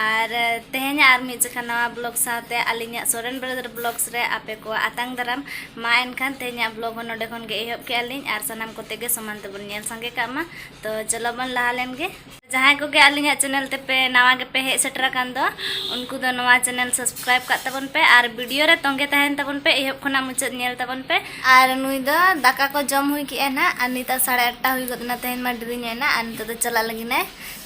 ᱟᱨ ᱛᱮᱦᱮᱧ ᱟᱨ ᱢᱤᱫ ᱡᱚᱠᱷᱟ ᱱᱟᱣᱟ ᱵᱞᱚᱜ ᱥᱟᱶᱛᱮ ᱟᱹᱞᱤᱧᱟᱜ ᱥᱚᱨᱮᱱ ᱵᱨᱟᱫᱟᱨ ᱵᱞᱚᱜᱥ ᱨᱮ ᱟᱯᱮ ᱠᱚ ᱟᱛᱟᱝ ᱫᱟᱨᱟᱢ ᱢᱟ ᱮᱱᱠᱷᱟᱱ ᱛᱮᱦᱮᱧᱟᱜ ᱵᱞᱚᱜ ᱦᱚᱸ ᱱᱚᱰᱮ ᱠᱷᱚᱱ ᱜᱮ ᱮᱦᱚᱵ ᱠᱮᱜᱼᱟ ᱞᱤᱧ ᱟᱨ ᱥᱟᱱᱟᱢ ᱠᱚᱛᱮ ᱜᱮ ᱥᱚᱢᱟᱱ ᱛᱮᱵᱚᱱ ᱧᱮᱞ ᱥᱟᱸᱜᱮ ᱠᱟᱜ ᱢᱟ ᱛᱚ ᱪᱚᱞᱚ ᱵᱚᱱ ᱞᱟᱦᱟ ᱞᱮᱱ ᱜᱮ ᱡᱟᱦᱟᱸᱭ ᱠᱚᱜᱮ ᱟᱹᱞᱤᱧᱟᱜ ᱪᱮᱱᱮᱞ ᱛᱮᱯᱮ ᱱᱟᱣᱟ ᱜᱮᱯᱮ ᱦᱮᱡ ᱥᱮᱴᱮᱨ ᱟᱠᱟᱱ ᱫᱚ ᱩᱱᱠᱩ ᱫᱚ ᱱᱚᱣᱟ ᱪᱮᱱᱮᱞ ᱥᱟᱵᱥᱠᱨᱟᱭᱤᱵ ᱠᱟᱜ ᱛᱟᱵᱚᱱ ᱯᱮ ᱟᱨ ᱵᱷᱤᱰᱤᱭᱳ ᱨᱮ ᱛᱚᱸᱜᱮ ᱛᱟᱦᱮᱱ ᱛᱟᱵᱚᱱ ᱯᱮ ᱮᱦᱚᱵ ᱠᱷᱚᱱᱟᱜ ᱢᱩᱪᱟᱹᱫ ᱧᱮᱞ ᱛᱟᱵᱚᱱ ᱯᱮ ᱟᱨ ᱱᱩᱭ ᱫᱚ ᱫᱟᱠᱟ ᱠᱚ ᱡᱚᱢ ᱦᱩᱭ ᱠᱮᱜᱼᱟ ᱱᱟᱜ ᱟᱨ ᱱᱤᱛᱚᱜ ᱥᱟᱲᱮ ᱟᱴᱴᱟ ᱦᱩᱭ ᱜᱚᱫ ᱮᱱᱟ ᱛᱮᱦᱮᱧ ᱢᱟ ᱰᱮᱨᱤ ᱧᱚᱜ ᱮᱱᱟ ᱟᱨ ᱱᱤᱛᱚᱜ ᱫᱚ ᱪᱟᱞᱟᱜ ᱞᱟᱹᱜᱤᱫ ᱮ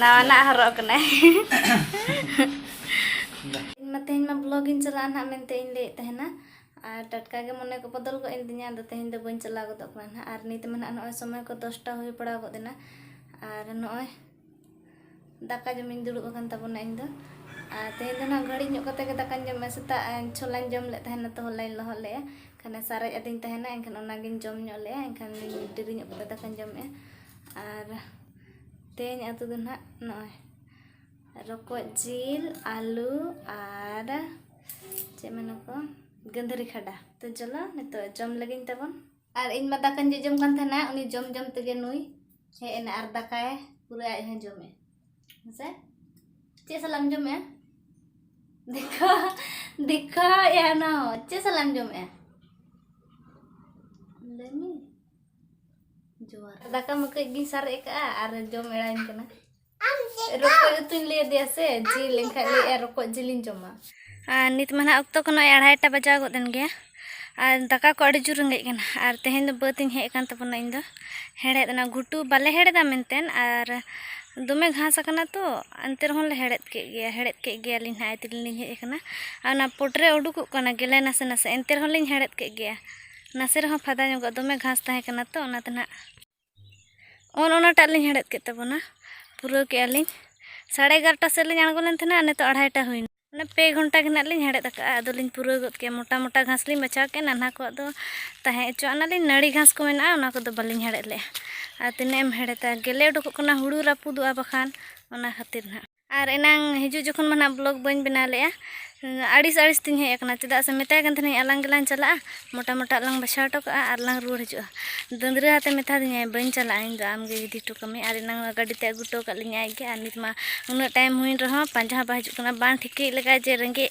ᱱᱟᱣᱟᱱᱟᱜ ᱦᱚᱨᱚᱜ ᱠᱟᱱᱟᱭ ᱤᱧ ᱢᱟ ᱛᱮᱦᱮᱧ ᱢᱟ ᱵᱞᱚᱜ ᱤᱧ ᱪᱟᱞᱟᱜᱼᱟ ᱱᱟᱦᱟᱜ ᱢᱮᱱᱛᱮ ᱤᱧ ᱞᱟᱹᱭᱮᱫ ᱛᱟᱦᱮᱱᱟ ᱟᱨ ᱴᱟᱴᱠᱟ ᱜᱮ ᱢᱚᱱᱮ ᱠᱚ ᱵᱚᱫᱚᱞ ᱜᱚᱫ ᱮᱱ ᱛᱤᱧᱟ ᱟᱫᱚ ᱛᱮᱦᱮᱧ ᱫᱚ ᱵᱟᱹᱧ ᱪᱟᱞᱟᱣ ᱜᱚᱫᱚᱜ ᱠᱟᱱᱟ ᱱᱟᱦᱟᱜ ᱟᱨ ᱱᱤᱛ ᱢᱟ ᱱᱟᱦᱟᱜ ᱱᱚᱜᱼᱚᱭ ᱥᱚᱢᱚᱭ ᱠᱚ ᱫᱚᱥᱴᱟ ᱦᱩᱭ ᱯᱟᱲᱟᱣ ᱜᱚᱫ ᱮᱱᱟ ᱟᱨ ᱱᱚᱜᱼᱚᱭ ᱫᱟᱠᱟ ᱡᱚᱢᱤᱧ ᱫᱩᱲᱩᱵ ᱟᱠᱟᱱ ᱛᱟᱵᱚᱱᱟ ᱤᱧ ᱫᱚ ᱟᱨ ᱛᱮᱦᱮᱧ ᱫᱚ ᱱᱟᱦᱟᱜ ᱜᱷᱟᱹᱲᱤᱡ ᱧᱚᱜ ᱠᱟᱛᱮ ᱜᱮ ᱫᱟᱠᱟᱧ ᱡᱚᱢᱟ ᱥᱮᱛᱟᱜ ᱪᱷᱚᱞᱟᱧ ᱡᱚᱢ ᱞᱮᱫ ᱛᱟᱦᱮᱱᱟ ᱛᱚ ᱦᱚᱞᱟᱧ ᱞᱚᱦᱚᱫ ᱞᱮᱫᱼᱟ ᱠᱷᱟᱱ ᱥᱟᱨᱮᱡ ᱟᱹᱫᱤᱧ ᱛᱟᱦᱮᱱᱟ ᱮᱱᱠᱷᱟᱱ ᱚᱱᱟᱜᱤᱧ ᱡᱚᱢ ᱧᱚᱜ ᱞᱮᱫᱼᱟ ᱮᱱᱠᱷᱟᱱ ᱰᱮᱨᱤ ᱧᱚᱜ ᱠᱟᱛᱮ ᱫᱟᱠᱟᱧ ᱡᱚᱢᱮᱫᱼᱟ ᱟᱨ ᱛᱮᱦᱮᱧ ᱟᱛᱳ ᱫᱚ ᱱᱟᱦᱟᱜ ᱱᱚᱜᱼᱚᱭ ᱨᱚᱠᱚᱡ ᱡᱤᱞ ᱟᱹᱞᱩ ᱟᱨ ᱪᱮᱫ ᱢᱮᱱᱟᱠᱚ ᱜᱟᱹᱫᱷᱟᱹᱨᱤ ᱠᱷᱟᱰᱟ ᱛᱚ ᱪᱚᱞᱚ ᱱᱤᱛᱚᱜ ᱡᱚᱢ ᱞᱟᱹᱜᱤᱫ ᱛᱟᱵᱚᱱ ᱟᱨ ᱤᱧ ᱢᱟ ᱫᱟᱠᱟᱧ ᱡᱚᱡᱚᱢ ᱠᱟᱱ ᱛᱟᱦᱮᱱᱟ ᱩᱱᱤ ᱡᱚᱢ ᱡᱚᱢ ᱛᱮᱜᱮ ᱱᱩᱭ ᱦᱮᱡ ᱮᱱᱟ ᱟᱨ ᱫᱟᱠᱟᱭ ᱯᱩᱨᱟᱹ ᱟᱡ ᱦᱚᱸ ᱡᱚᱢᱮ ᱦᱮᱸᱥᱮ ᱪᱮᱫ ᱥᱟᱞᱟᱜ ᱮᱢ ᱡᱚᱢᱮᱜᱼᱟ ᱫᱮᱠᱷᱟ ᱫᱮᱠᱷᱟ ᱮᱱᱟ ᱪᱮᱫ ᱥᱟᱞᱟᱜ ᱮᱢ ᱡᱚᱢᱮᱜᱼᱟ ᱞᱟᱹᱭ ᱢᱮ ᱡᱚᱦᱟᱨ ᱫᱟᱠᱟ ᱢᱟ ᱠᱟᱹᱡ ᱜᱤᱧ ᱥᱟᱨᱮᱡ ᱟᱠᱟᱜᱼᱟ ᱟᱨ ᱡᱚᱢ ᱮᱲᱟᱧ ᱠᱟᱱᱟ ᱨᱚᱠᱚᱡ ᱩᱛᱩᱧ ᱞᱟᱹᱭ ᱟᱫᱮᱭᱟ ᱥᱮ ᱡᱤᱞ ᱮᱱᱠᱷᱟᱡ ᱞᱟᱹᱭᱮᱫᱼᱟ ᱨᱚᱠᱚᱡ ᱡᱤᱞᱤᱧ ᱡᱚᱢᱟ ᱟᱨ ᱱᱤᱛ ᱢᱟ ᱱᱟᱦᱟᱜ ᱚᱠᱛᱚ ᱠᱷᱚᱱ ᱟᱲᱟᱭᱴᱟ ᱵᱟᱡᱟᱣ ᱜᱚᱫ ᱮᱱ ᱜᱮᱭᱟ ᱟᱨ ᱫᱟᱠᱟ ᱠᱚ ᱟᱹᱰᱤ ᱡᱳᱨ ᱨᱮᱸᱜᱮᱡ ᱠᱟᱱᱟ ᱟᱨ ᱛᱮᱦᱮᱧ ᱫᱚ ᱵᱟᱹᱫᱽ ᱤᱧ ᱦᱮᱡ ᱟᱠᱟᱱ ᱛᱟᱵᱚᱱᱟ ᱤᱧ ᱫᱚ ᱦᱮᱲᱦᱮᱫ ᱚᱱᱟ ᱜᱷᱩᱴᱩ ᱵᱟᱞᱮ ᱦᱮᱲᱦᱮᱫᱟ ᱢᱮᱱᱛᱮ ᱟᱨ ᱫᱚᱢᱮ ᱜᱷᱟᱥ ᱟᱠᱟᱱᱟ ᱛᱚ ᱮᱱᱛᱮ ᱨᱮᱦᱚᱸ ᱞᱮ ᱦᱮᱲᱦᱮᱫ ᱠᱮᱫ ᱜᱮᱭᱟ ᱦᱮᱲᱦᱮᱫ ᱠᱮᱫ ᱜᱮᱭᱟᱞᱤᱧ ᱱᱟᱦᱟᱜ ᱛᱮᱞᱤᱧ ᱦᱮᱡ ᱟᱠᱟᱱᱟ ᱟᱨ ᱚᱱᱟ ᱯᱚᱴᱨᱮ ᱩᱰᱩᱠᱚᱜ ᱠᱟᱱᱟ ᱜᱮᱞᱮ ᱱᱟᱥᱮ ᱱᱟᱥᱮ ᱮᱱᱛᱮ ᱨᱮᱦᱚᱸ ᱞᱤᱧ ᱦᱮᱲᱦᱮᱫ ᱠᱮᱫ ᱜᱮᱭᱟ ᱱᱟᱥᱮ ᱨᱮᱦᱚᱸ ᱯᱷᱟᱫᱟ ᱧᱚᱜᱚᱜ ᱫᱚᱢᱮ ᱜᱷᱟᱥ ᱛᱟᱦᱮᱸ ᱠᱟᱱᱟ ᱛᱚ ᱚᱱᱟᱛᱮ ᱱᱟᱜ ᱚᱱ ᱚᱱᱟᱴᱟᱜ ᱞᱤᱧ ᱦᱮᱲᱦᱮᱫ ᱠᱮᱫ ᱛᱟᱵᱚᱱᱟ ᱯᱩᱨᱟᱹᱣ ᱠᱮᱜᱼᱟ ᱞᱤᱧ ᱥᱟᱲᱮ ᱮᱜᱟᱨᱚᱴᱟ ᱥᱮᱫ ᱞᱤᱧ ᱟᱬᱜᱚ ᱞᱮᱱ ᱛᱟᱦᱮᱱᱟ ᱱᱤᱛᱚᱜ ᱟᱲᱟᱭᱴᱟ ᱦᱩᱭᱱᱟ ᱚᱱᱟ ᱯᱮ ᱜᱷᱚᱱᱴᱟ ᱜᱮ ᱱᱟᱜ ᱞᱤᱧ ᱦᱮᱲᱦᱮᱫ ᱟᱠᱟᱫᱼᱟ ᱟᱫᱚ ᱞᱤᱧ ᱯᱩᱨᱟᱹᱣ ᱜᱚᱫ ᱠᱮᱜᱼᱟ ᱢᱚᱴᱟ ᱢᱚᱴᱟ ᱜᱷᱟᱥ ᱞᱤᱧ ᱵᱟᱪᱷᱟᱣ ᱠᱮᱜᱼᱟ ᱱᱟᱱᱦᱟ ᱠᱚᱣᱟᱜ ᱫᱚ ᱛᱟᱦᱮᱸ ᱦᱚᱪᱚᱣᱟᱜ ᱱᱟᱞᱤᱧ ᱱᱟᱹᱲᱤ ᱜᱷᱟᱥ ᱠᱚ ᱢᱮᱱᱟᱜᱼᱟ ᱚᱱᱟ ᱠᱚᱫᱚ ᱵᱟᱹᱞᱤᱧ ᱦᱮᱲᱦᱮᱫ ᱞᱮᱜᱼᱟ ᱟᱨ ᱛᱤᱱᱟᱹᱜ ᱮᱢ ᱦᱮᱲᱦᱮᱫᱟ ᱜᱮᱞᱮ ᱩᱰᱩᱠᱚᱜ ᱠᱟᱱᱟ ᱦᱩᱲᱩ ᱨᱟᱹᱯᱩᱫᱚᱜᱼᱟ ᱵᱟᱠᱷᱟᱱ ᱚᱱᱟ ᱠᱷᱟᱹᱛᱤᱨ ᱱᱟᱜ ᱟᱨ ᱮᱱᱟᱝ ᱦᱤᱡᱩᱜ ᱡᱚᱠᱷᱚᱱ ᱢᱟ ᱱᱟᱦᱟᱜ ᱵᱞᱚᱜᱽ ᱵᱟᱹᱧ ᱵᱮᱱᱟᱣ ᱞᱮᱜᱼᱟ ᱟᱹᱲᱤᱥ ᱟᱹᱲᱤᱥ ᱛᱤᱧ ᱦᱮᱡ ᱟᱠᱟᱱᱟ ᱪᱮᱫᱟᱜ ᱥᱮ ᱢᱮᱛᱟᱭ ᱠᱟᱱ ᱛᱟᱦᱮᱱᱟᱹᱧ ᱟᱞᱟᱝ ᱜᱮᱞᱟᱝ ᱪᱟᱞᱟᱜᱼᱟ ᱢᱚᱴᱟ ᱢᱚᱴᱟ ᱞᱟᱝ ᱵᱟᱪᱷᱟᱣ ᱦᱚᱴᱚ ᱠᱟᱜᱼᱟ ᱟᱨ ᱞᱟᱝ ᱨᱩᱣᱟᱹᱲ ᱦᱤᱡᱩᱜᱼᱟ ᱫᱟᱹᱫᱽᱨᱟᱹ ᱟᱛᱮ ᱢᱮᱛᱟ ᱫᱤᱧᱟᱭ ᱵᱟᱹᱧ ᱪᱟᱞᱟᱜᱼᱟ ᱤᱧ ᱫᱚ ᱟᱢ ᱜᱮ ᱤᱫᱤ ᱦᱚᱴᱚ ᱠᱟᱹᱢᱤ ᱟᱨ ᱮᱱᱟᱝ ᱜᱟᱹᱰᱤ ᱛᱮ ᱟᱹᱜᱩ ᱦᱚᱴᱚ ᱠᱟᱜ ᱞᱤᱧᱟᱭ ᱟᱡ ᱜᱮ ᱟᱨ ᱱᱤᱛ ᱢᱟ ᱩᱱᱟᱹᱜ ᱴᱟᱭᱤᱢ ᱦᱩᱭᱮᱱ ᱨᱮᱦᱚᱸ ᱯᱟᱸᱡᱟ ᱦᱚᱸ ᱵᱟᱭ ᱦᱤᱡᱩᱜ ᱠᱟᱱᱟ ᱵᱟᱝ ᱴᱷᱤᱠᱟᱹᱭᱮᱫ ᱞᱮᱠᱟ ᱡᱮ ᱨᱮᱸᱜᱮᱡ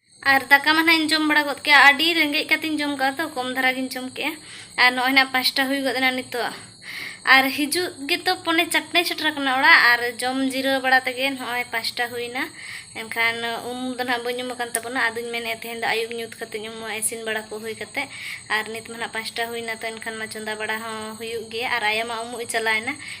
ᱟᱨ ᱫᱟᱠᱟ ᱢᱟ ᱱᱟᱜ ᱤᱧ ᱡᱚᱢ ᱵᱟᱲᱟ ᱜᱚᱫ ᱠᱮᱜᱼᱟ ᱟᱹᱰᱤ ᱨᱮᱸᱜᱮᱡ ᱠᱟᱛᱮᱧ ᱡᱚᱢ ᱠᱟᱜᱼᱟ ᱛᱚ ᱠᱚᱢ ᱫᱷᱟᱨᱟ ᱜᱤᱧ ᱡᱚᱢ ᱠᱮᱜᱼᱟ ᱟᱨ ᱱᱚᱜᱼᱚᱭ ᱱᱟᱜ ᱯᱟᱸᱪᱴᱟ ᱦᱩᱭ ᱜᱚᱫ ᱮᱱᱟ ᱱᱤᱛᱚᱜ ᱟᱨ ᱦᱤᱡᱩᱜ ᱜᱮᱛᱚ ᱯᱚᱱᱮ ᱪᱟᱨᱴᱮ ᱥᱮᱴᱮᱨ ᱟᱠᱟᱱᱟ ᱚᱲᱟᱜ ᱟᱨ ᱡᱚᱢ ᱡᱤᱨᱟᱹᱣ ᱵᱟᱲᱟ ᱛᱮᱜᱮ ᱱᱚᱜᱼᱚᱭ ᱯᱟᱸᱪᱴᱟ ᱦᱩᱭᱱᱟ ᱮᱱᱠᱷᱟᱱ ᱩᱢ ᱫᱚ ᱱᱟᱜ ᱵᱟᱹᱧ ᱩᱢ ᱟᱠᱟᱱ ᱛᱟᱵᱚᱱᱟ ᱟᱫᱚᱧ ᱢᱮᱱᱮᱫ ᱛᱮᱦᱮᱧ ᱫᱚ ᱟᱹᱭᱩᱵ ᱧᱩᱛ ᱠᱟᱛᱮᱧ ᱩᱢᱩᱜᱼᱟ ᱤᱥᱤᱱ ᱵᱟᱲᱟ ᱠᱚ ᱦᱩᱭ ᱠᱟᱛᱮ ᱟᱨ ᱱᱤᱛ ᱢᱟ ᱱᱟᱜ ᱯᱟᱸᱪᱴᱟ ᱦᱩᱭᱱᱟ ᱛᱚ ᱮᱱᱠᱷᱟᱱ ᱢᱟ ᱪᱚᱸᱫᱟ ᱵᱟᱲᱟ ᱦᱚᱸ ᱦᱩᱭᱩᱜ ᱜᱮᱭᱟ ᱟᱨ ᱟᱭᱳ ᱢᱟ ᱩᱢᱩᱜ ᱮ ᱪᱟᱞᱟᱣᱮᱱᱟ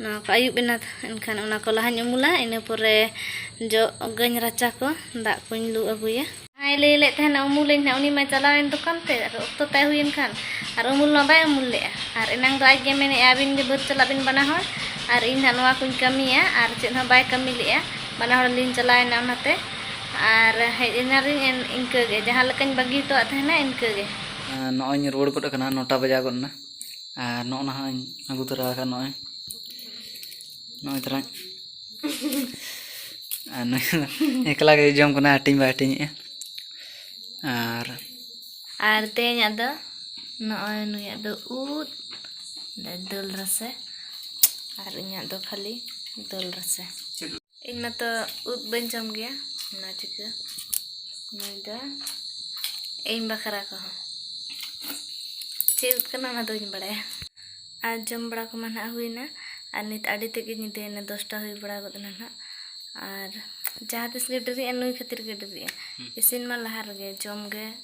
ᱱᱚᱣᱟ ᱠᱚ ᱟᱹᱭᱩᱵ ᱮᱱᱟ ᱮᱱᱠᱷᱟᱱ ᱚᱱᱟ ᱠᱚ ᱞᱟᱦᱟᱧ ᱩᱢᱩᱞᱟ ᱤᱱᱟᱹ ᱯᱚᱨᱮ ᱡᱚᱜ ᱟᱹᱜᱟᱹᱧ ᱨᱟᱪᱟ ᱠᱚ ᱫᱟᱜ ᱠᱚᱧ ᱞᱩ ᱟᱹᱜᱩᱭᱟ ᱡᱟᱦᱟᱸᱭ ᱞᱟᱹᱭ ᱞᱮᱫ ᱛᱟᱦᱮᱱᱟ ᱩᱢᱩᱞᱟᱹᱧ ᱦᱟᱸᱜ ᱩᱱᱤ ᱢᱟᱭ ᱪᱟᱞᱟᱣᱮᱱ ᱫᱚᱠᱟᱱ ᱛᱮ ᱟᱨ ᱚᱠᱛᱚ ᱛᱟᱭ ᱦᱩᱭᱮᱱ ᱠᱷᱟᱱ ᱟᱨ ᱩᱢᱩᱞ ᱢᱟ ᱵᱟᱭ ᱩᱢᱩᱞ ᱞᱮᱫᱼᱟ ᱟᱨ ᱮᱱᱟᱝ ᱫᱚ ᱟᱡ ᱜᱮ ᱢᱮᱱᱮᱫᱼᱟ ᱟᱹᱵᱤᱱ ᱜᱮ ᱵᱟᱹᱫᱽ ᱪᱟᱞᱟᱜ ᱵᱤᱱ ᱵᱟᱱᱟ ᱦᱚᱲ ᱟᱨ ᱤᱧ ᱦᱟᱸᱜ ᱱᱚᱣᱟ ᱠᱚᱧ ᱠᱟᱹᱢᱤᱭᱟ ᱟᱨ ᱪᱮᱫ ᱦᱚᱸ ᱵᱟᱭ ᱠᱟᱹᱢᱤ ᱞᱮᱫᱼᱟ ᱵᱟᱱᱟ ᱦᱚᱲ ᱞᱤᱧ ᱪᱟᱞᱟᱣᱮᱱᱟ ᱚᱱᱟᱛᱮ ᱟᱨ ᱦᱮᱡ ᱮᱱᱟᱞᱤᱧ ᱤᱱᱠᱟᱹ ᱜᱮ ᱡᱟᱦᱟᱸ ᱞᱮᱠᱟᱧ ᱵᱟᱹᱜᱤ ᱦᱚᱴᱚᱣᱟᱫ ᱛᱟᱦᱮᱱᱟ ᱤᱱᱠᱟᱹ ᱜᱮ ᱱᱚᱜᱼᱚᱭ ᱤᱧ ᱨᱩᱣᱟᱹᱲ ᱜᱚᱫ ᱟᱠᱟᱱᱟ ᱱᱚᱴᱟ ᱵᱟᱡᱟᱣ ᱜᱚᱫ ᱮᱱᱟ ᱟᱨ ᱱᱚᱜᱼᱚ ᱱᱟ ᱦᱚᱸᱧ ᱟᱹᱜᱩ ᱛᱚᱨᱟ ᱟᱠᱟᱫ ᱱᱚᱜᱼᱚᱭ ᱱᱚᱜᱼᱚᱭ ᱛᱚᱨᱟ ᱟᱨ ᱱᱩᱭ ᱫᱚ ᱮᱠᱞᱟ ᱜᱮ ᱡᱚᱢ ᱠᱟᱱᱟ ᱦᱟᱹᱴᱤᱧ ᱵᱟᱭ ᱦᱟᱹᱴᱤᱧᱮᱜᱼᱟ ᱟᱨ ᱟᱨ ᱛᱮᱦᱮᱧᱟᱜ ᱫᱚ ᱱᱚᱜᱼᱚᱭ ᱱᱩᱭᱟᱜ ᱫᱚ ᱩᱫ ᱫᱟᱹᱞ ᱨᱟᱥᱮ ᱟᱨ ᱤᱧᱟᱹᱜ ᱫᱚ ᱠᱷᱟᱹᱞᱤ ᱫᱟᱹᱞ ᱨᱟᱥᱮ ᱤᱧ ᱢᱟᱛᱚ ᱩᱫ ᱵᱟᱹᱧ ᱡᱚᱢ ᱜᱮᱭᱟ ᱚᱱᱟ ᱪᱤᱠᱟᱹ ᱱᱩᱭ ᱫᱚ ᱤᱧ ᱵᱟᱠᱷᱨᱟ ᱠᱚᱦᱚᱸ ᱪᱮᱫ ᱩᱫ ᱠᱟᱱᱟ ᱚᱱᱟ ᱫᱚ ᱵᱟᱹᱧ ᱵᱟᱲᱟᱭᱟ ᱟᱨ ᱡᱚᱢ ᱵᱟᱲᱟ ᱠᱚᱢᱟ ᱱᱟᱦᱟᱜ ᱦᱩᱭᱱᱟ ᱟᱨ ᱱᱤᱛ ᱟᱹᱰᱤ ᱛᱮᱜᱮ ᱧᱤᱫᱟᱹᱭᱮᱱᱟ ᱫᱚᱥᱴᱟ ᱦᱩᱭ ᱵᱟᱲᱟ ᱜᱚᱫ ᱮᱱᱟ ᱱᱟᱦᱟᱜ ᱟᱨ ᱡᱟᱦᱟᱸ ᱛᱤᱥ ᱜᱮ ᱰᱮᱨᱤᱜᱼᱟ ᱱᱩᱭ ᱠᱷᱟᱹᱛᱤᱨ ᱜᱮ ᱰᱮᱨᱤᱜᱼᱟ ᱤᱥᱤᱱ ᱢᱟ ᱞᱟᱦᱟ ᱨᱮᱜᱮ ᱡᱚᱢ ᱜᱮ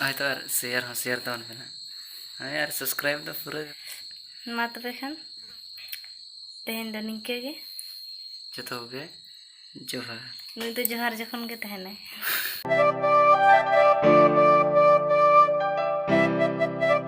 ᱦᱳᱭᱛᱚ ᱟᱨ ᱥᱮᱭᱟᱨ ᱦᱚᱸ ᱥᱮᱭᱟᱨ ᱛᱟᱵᱚᱱ ᱯᱮ ᱱᱟᱦᱟᱜ ᱦᱳᱭ ᱟᱨ ᱥᱟᱵᱥᱠᱨᱟᱭᱤᱵ ᱫᱚ ᱯᱩᱨᱟᱹ ᱢᱟ ᱛᱚᱵᱮ ᱠᱷᱟᱱ ᱛᱮᱦᱮᱧ ᱫᱚ ᱱᱤᱝᱠᱟᱹ ᱜᱮ ᱡᱚᱛᱚ ᱠᱚᱜᱮ ᱡᱚᱦᱟᱨ ᱱᱩᱭ ᱫᱚ ᱡᱚᱦᱟᱨ ᱡᱚᱠᱷᱚᱱ ᱜᱮ ᱛᱟᱦᱮᱱᱟᱭ